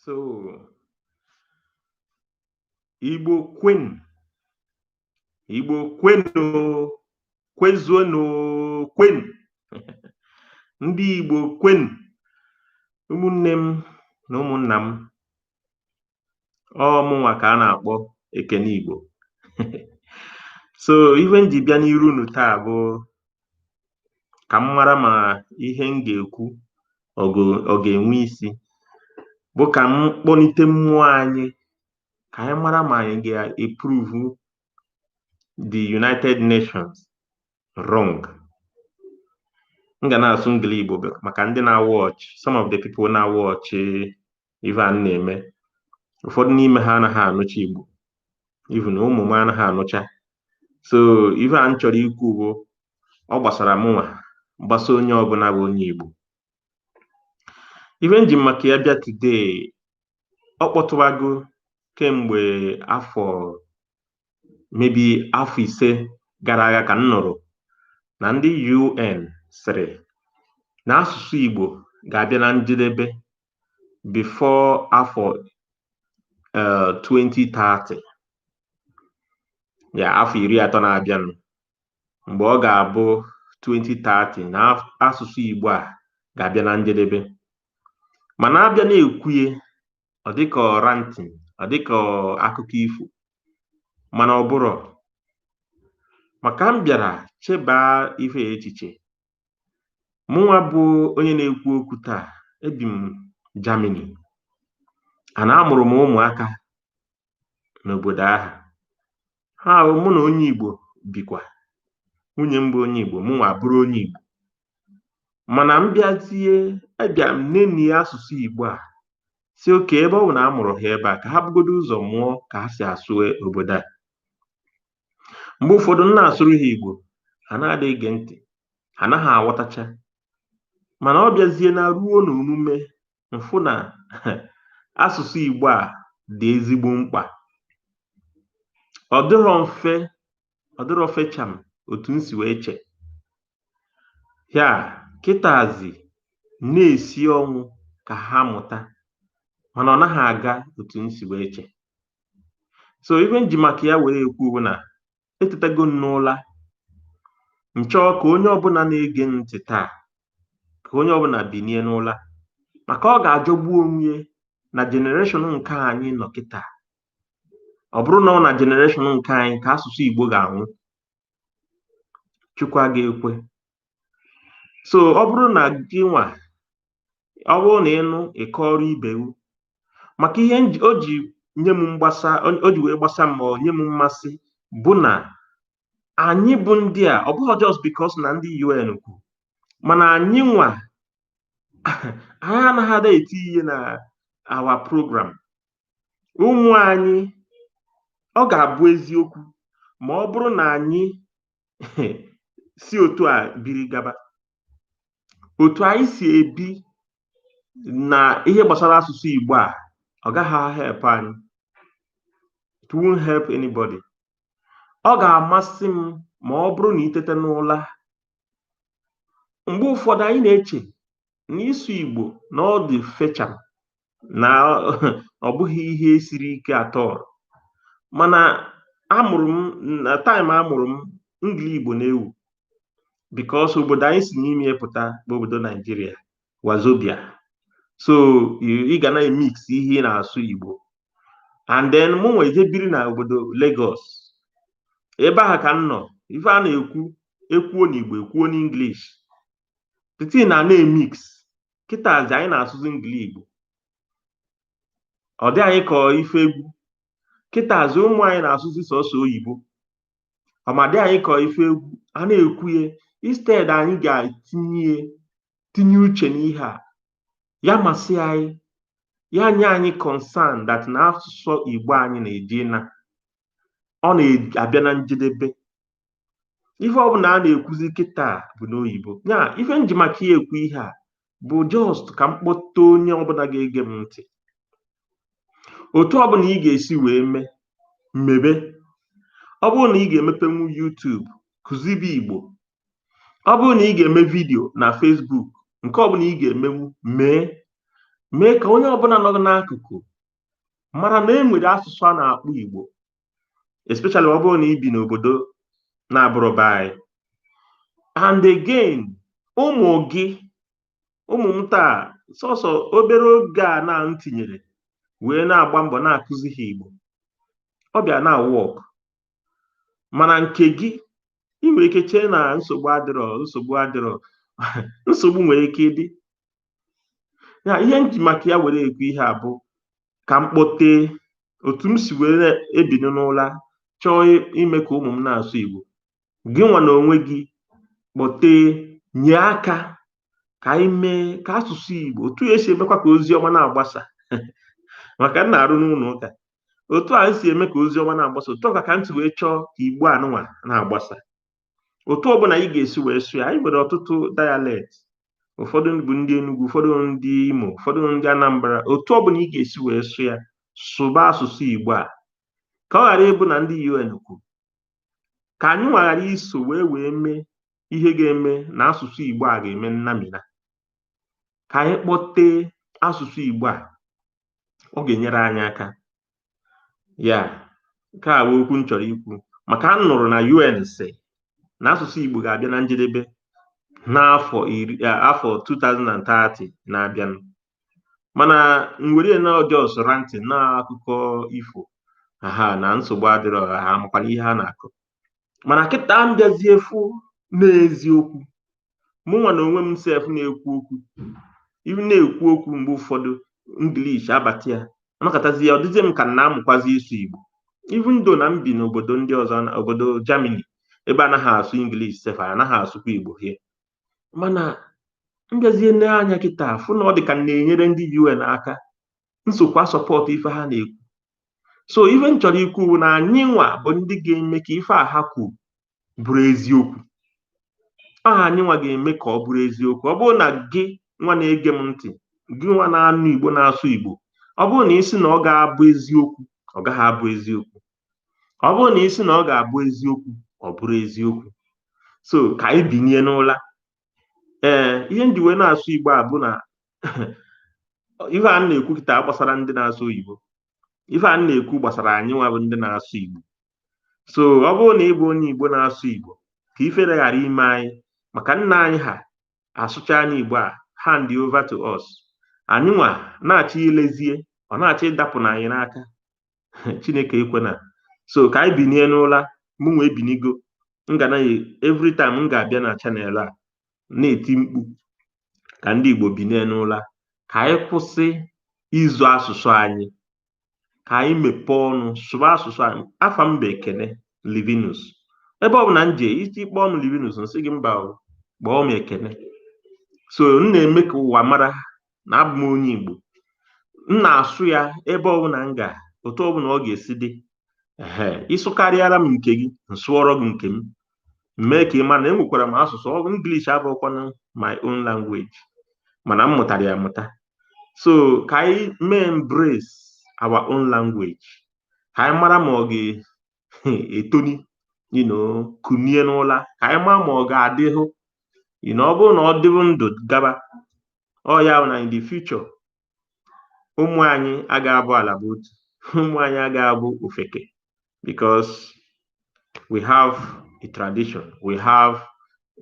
so igbo kwenu igbo kwenu kwezuonu kwenu ndị igbo kwenu ụmụnne m na ụmụnna m ọ mụnwa ka a na-akpọ ekene igbo so ihe m ji bịa n'iru unu taa bụ ka m mara ma ihe m ga-ekwu ọ ga-enwe isi bụ ka m kpọlite mmụọ anyị ka anyị mara ma anyị ga-eprove the United Nations wrong m ga na-asụ Engli-Igbo maka ndị na-awatch some of the people na-awatch ife a na-eme ụfọdụ n'ime ha anaghị anụcha Igbo even ụmụ m anaghị anụcha so ife a m chọrọ ikwu bụ ọ gbasara mụnwa gbasa onye ọbụla bụ onye Igbo ife m ji maka ya bịa today ọ kpọtụwago kemgbe afọ maybe afọ ise gara aga ka m nụrụ na ndị UN sịrị na asụsụ Igbo ga-abịa na njedebe before afọ uh, 2030 ya afọ iri atọ na-abịanụ mgbe ọ ga-abụ 2030 na asụsụ Igbo a ga-abịa na njedebe mana a bịa na-ekwu ya ọ dịka ranting ọ dịka akụkọ ifo mana ọ bụrọ maka m bịara chebaa ife a echiche Mụnwa bụ onye na-ekwu okwu taa, ebi m Germany and amụrụ m ụmụaka n'obodo ahụ. Aha, mụ na onye Igbo bikwa. Nwunye m bụ onye Igbo, mụnwa abụrụ onye Igbo. Mana m bịazie, abịa m nenie asụsụ Igbo a sị okay, ebe ọ bụ na a mụrụ ha ebe a ka ha bugodu ụzọ mụọ ka ha si asụ obodo a. mgbe ụfọdụ m na-asụrụ ha Igbo ha na-adị ege ntị ha anaghị aghọtacha mana ọ bịazie na ruo na omume m fụ na asụsụ Igbo a dị ezigbo mkpa ọ dịrọ mfe ọ dịrọ fecham otu m si wee che ya kịtazi na-esi ọnwụ ka ha mụta mana ọ naghị aga otu m si wee che so ife m ji maka ya were ekwu bụ na etetago m n'ụla m chọọ ka onye ọbụla na-ege m ntị taa ka onye ọbụla binie n'ụla maka ọ ga-ajọgbu onwe ya na generation nke anyị nọ kịta ọ bụrụ na ọ na generation nke anyị ka asụsụ Igbo ga-anwụ Chukwu aga ekwe so ọ bụrụ na gịnwa ọ bụrụ na ịnụ ịkọrọ ibe gị maka ihe o ji nye m mgbasa o ji wee gbasa m ma ọ nye m mmasị bụ na anyị bụ ndị a ọ bụghị just because na ndị UN kwu mana anyị nwa anyị anaghị ada eti ihe na our program ụmụ anyị ọ ga-abụ eziokwu ma ọ bụrụ na anyị si otu a biri gaba otu anyị si ebi na ihe gbasara asụsụ Igbo a ọ gaghị help anyị it won't help anybody ọ ga-amasị m ma ọ bụrụ na itete n'ụla mgbe ụfọdụ anyị na-eche na ịsụ Igbo na ọ dị fecham na ọ bụghị ihe siri ike at all mana a mụrụ m na time a mụrụ m Ingili Igbo na-ewu because obodo anyị si n'ime pụta bụ obodo Naijiria wazobia so ị ga na-emix ihe ị na-asụ Igbo and then mụ nwa eje biri na obodo Lagos ebe ahụ ka m nọ ife a na-ekwu e kwuo n'Igbo e kwuo n'English the thing na na-emix kịtazi anyị na-asụzi ingili igbo ọ dị anyị ka ife egwu kịtazi ụmụ anyị na-asụzi sọsọ oyibo ọ ma dị anyị ka ife egwu a na-ekwu ya instead anyị ga-etinye tinye uche n'ihe a ya masị anyị ya nye anyị concern that na asụsụ igbo anyị na-eji na ọ na-abịa na njedebe ihe ọbụla a na-ekwuzi kịta bụ n'oyibo ya ife m ji maka ya ekwu ihe a bụ just ka m kpọta onye ọbụla ga-ege m ntị otu ọbụla ị ga-esi wee mee mebe ọ bụrụ na ị ga-emepenwu YouTube kụzibe Igbo ọ bụrụ na ị ga-eme vidio na Facebook nke ọbụla ị ga-emenwu mee mee ka onye ọbụla nọ n'akụkụ mara na e nwere asụsụ a na-akpọ Igbo especially ọ bụrụ na i bi n'obodo na-abụrọ be anyị and again ụmụ gị ụmụ m taa sọsọ obere oge a na m tinyere wee na-agba mbọ na-akụzi ha Igbo ọ bịa na-work mana nke gị ị nwere ike chee na nsogbu adịrọ nsogbu adịrọ nsogbu nwere ike ịdị ya ihe m ji maka ya were ekwu ihe a bụ ka m kpọtee otu m si were bini n'ụla chọọ ime ka ụmụ m na-asụ Igbo gị nwa na onwe gị kpọtee nye aka ka anyị mee ka asụsụ Igbo otu e si emekwa ka ozi ọma na-agbasa maka m na-arụ n'ụlọ ụka otu a si eme ka ozi ọma na-agbasa otu a ka ka m si wee chọọ ka igbo anụnwa na-agbasa otu ọbụla anyị ga-esi wee sụọ ya anyị nwere ọtụtụ dialect ụfọdụ bụ ndị Enugu ụfọdụ ndị Imo ụfọdụ ndị Anambra otu ọbụla ị ga-esi wee sụọ ya sụba asụsụ Igbo a ka ọ ghara ịbụ na ndị UN kwuru ka anyị nwa ghara iso wee wee mee ihe ga-eme na asụsụ Igbo a ga-eme nnamina ka anyị kpọtee asụsụ Igbo a ọ ga-enyere anyị aka ya nke a bụ okwu m chọrọ ikwu maka a nụrụ na UN sị na asụsụ Igbo ga-abịa na njedebe n'afọ iri afọ 2030 na-abịanụ mana m were na ọ just ranting na akụkọ ifo ha na nsogbu adịrọ ha amakwana ihe ha na-akọ mana kịta m bịazie fụ na eziokwu mụnwa na onwe m sef na-ekwu okwu ibi na-ekwu okwu mgbe ụfọdụ English abata ya anakọtazi ya ọ dịzie m ka m na-amụkwazi ịsụ igbo even though na m bi n'obodo ndị ọzọ na obodo Germany ebe anaghị asụ English sef anaghị asụkwa Igbo here mana m bịazie nee anya kịta fụ na ọ dị ka m na-enyere ndị UN aka m sokwa support ife ha na-ekwu so ife m chọrọ ikwu bụ na anyị nwa bụ ndị ga-eme ka ife a ha kwuru bụrụ eziokwu aha anyị nwa ga-eme ka ọ bụrụ eziokwu ọ bụrụ na gị nwa na-ege m ntị gị nwa na-anụ igbo na-asụ igbo ọ bụrụ na ị sị na ọ gaghị abụ eziokwu ọ gaghị abụ eziokwu ọ bụrụ na ị sị na ọ ga-abụ eziokwu ọ bụrụ eziokwu so ka anyị binie n'ụla ee ihe m ji wee na-asụ igbo a bụ na ife a m na-ekwu kịta agbasarọ ndị na-asụ oyibo ife a m na-ekwu gbasara anyị nwa bụ ndị na-asụ igbo so ọ bụrụ na ị bụ onye igbo na-asụ igbo ka ifere ghara ime anyị maka nna anyị ha asụcha anyị igbo a hand over to us anyị nwa na-achọ ilezie ọ na-achọ ịdapụna anyị n'aka chineke ekwena so ka anyị binie n'ụla mụ nwa ebinigo m ga naghị every time m ga-abịa na channel a na-eti mkpu ka ndị igbo binie n'ụla ka anyị kwụsị izo asụsụ anyị ka anyị mepee ọnụ sụba asụsụ anyị afa m bụ ekene livinus ebe ọ bụla m jee i kpọọ m livinus m sị gị mba kpọọ m ekene so m na-eme ka ụwa mara na abụ m onye Igbo m na-asụ ya ebe ọbụla m ga otu ọbụla ọ ga-esi dị ee ị sụkarịara m nke gị m sụọrọ gị nke m mee ka ị ma na enwekwara m asụsụ ọ English abụrọkwanụ my own language mana m mụtara ya amụta so ka anyị mee embrace our own language ka anyị mara ma ọ ga etoni you know kunie n'ụla ka anyị maa ma ọ ga-adịhụ you know ọ bụrụ na ọ dịbụ ndụ gaba ọ ya na in the future ụmụ anyị aga abụ ala bụ otu ụmụ anyị aga abụ ofeke because we have a tradition we have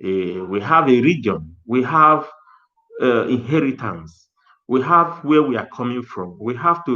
a we have a region we have uh, inheritance we have where we are coming from we have to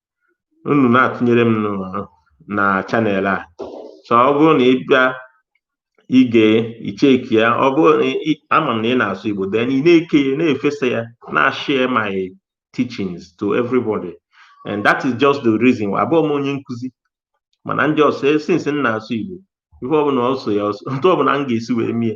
unu na-atụnyere m na channel a so ọ bụrụ na ị bịa ịga icheki ya ọ bụrụ na ama m na ị na-asụ Igbo then ị na-eke ya na-efesa ya na-share my teachings to everybody and that is just the reason why abụọ m onye nkụzi mana ndị ọsọ since m na-asụ Igbo ife ọbụla ọ sọ ya ọ sọ otu ọbụla m ga-esi wee mee